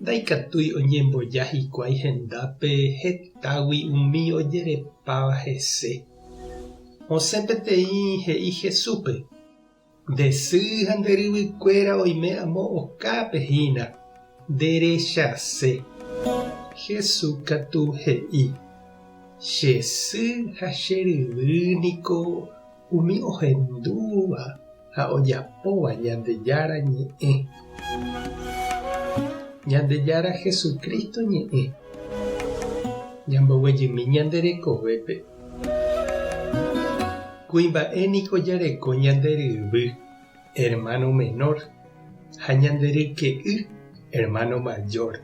Ndaikatúi oñemboja hikuái hendápe hetágui umi ojerepáva hese. Osẽ peteĩ he'i Jesúspe, Nde sy ha nde ryvykuéra oime amo okápe hína, nderechase. Jesús katu he'i, Che sy ha che ryvy niko Umi ohendúva ha ojapóva Ñandejára ñe'ẽ. Ñandejára Jesucristo ñe'ẽ. Ñamboguejymi ñande rekovépe. Kuimba'e niko jareko ñande ryvy, hermano menor, ha ñande ryke'y, hermano mayor.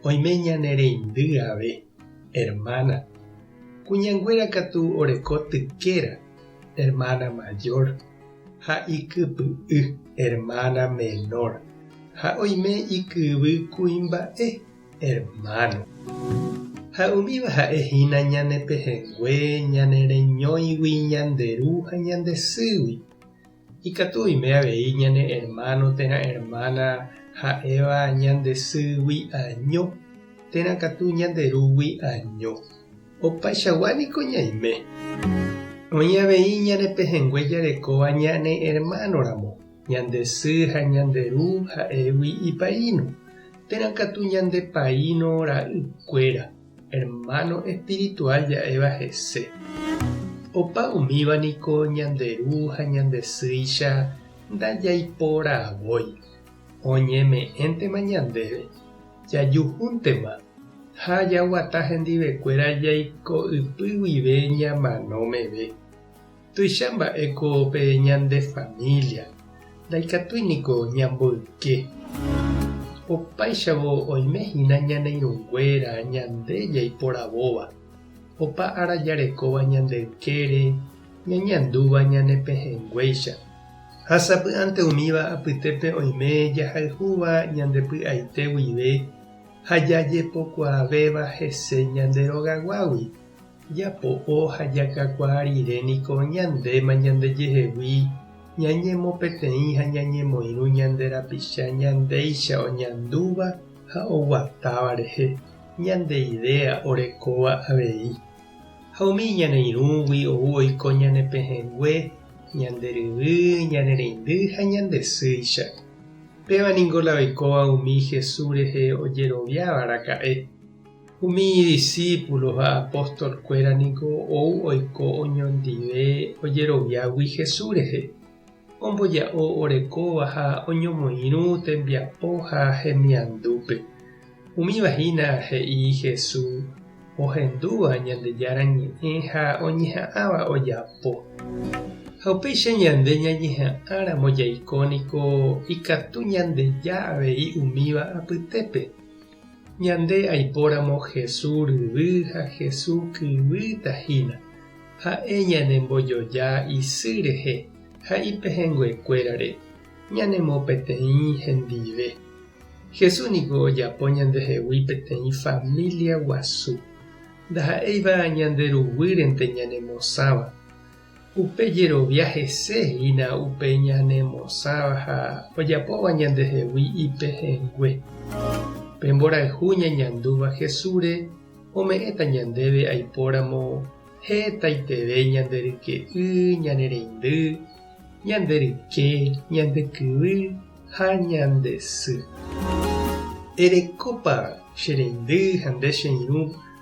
Oime ñane reindy ave. Hermana, Kuñanguéra katu oreko tykéra, hermana mayor, ha ikypy'y, hermana menor, ha oime ikyvy kuimba'e, hermano. Ha umíva ha'e hína ñane pehẽngue, ñane reñóigui, ñande ru ha ñande sýgui. Ikatu oime avei ñane ermáno térã ermána ha'éva ñande sýgui año térã katu ñande rúgui año. Opaichagua niko ñaime. Oĩ avei ñane pehẽngue jarekóva ñane ermánoramo, ñande sy ha ñande ru ha'égui ipaíno, térã katu ñande paíno ra'ykuéra. Hermano espiritual ja'éva hese. Opa umíva niko ñande ru ha ñande sýicha ndajaiporavói. Oñeme'ẽntema ñandéve, jajuhúntema ha jaguata hendivekuéra jaiko'ypy guive ñamano meve. Tuicha mba'éko pe ñande família, ndaikatúi niko ñamboyke. Opáichavo oime hína ñane irũnguéra ñande jaiporavóva, opa ára jarekóva ñande ykére, ñañandúva ñane pehẽnguéicha. Ha sapy'ánte umíva apytépe oime jahayhúva ñande py'aite guive ha jajepokuaavéva hese ñande rogaguágui. Japo'o ha jakakuaa rire niko ñandéma ñandejehegui ñañemopeteĩ ha ñañemoirũ ñande rapicha ñandéicha oñandúva ha oguatáva rehe, ñande idéa orekóva avei. Ha umi iñaneirũgui ou oiko ñane pehẽngue, ñande ryvy, ñane reindy ha ñande sýicha. Péva niko la oikóva umi Jesús rehe ojeroviáva raka'e. Umi idisípulo ha apóstolkuéra ningo ou oiko oñondive ojeroviágui Jesús rehe, omboja'o orekóva ha oñomoirũ tembiapo ha hemiandúpe. Umíva hína he'i Jesús ohendúva Ñandejára Ñe'ẽ ha oñeha'ãva ojapo. Ha upéicha ñande ñañeha'ãramo jaiko niko ikatu ñandeja avei umíva apytépe. Ñande aipóramo Hesu ryvy ha Hesu kyvy tahína, ha'e ñanembojoja isy rehe ha ipehẽnguekuérare ñanemo peteĩ hendive. Hesu niko ojapo ñandehegui peteĩ família guasu. Ndaha'éiva ñande ruguýrente ñanemosãva. Upe jerovia hese hína upe ñanemosãva ha ojapóva ñandehegui ipehẽngue. Pe mborayhu ñañandúva Jesúsre ome'ẽta ñandéve aipóramo hetaiterei ñande ryke'y, ñane reindy, ñande ryke, ñande kyvy ha ñande sy. Erekópa che reindy ha nde che irũ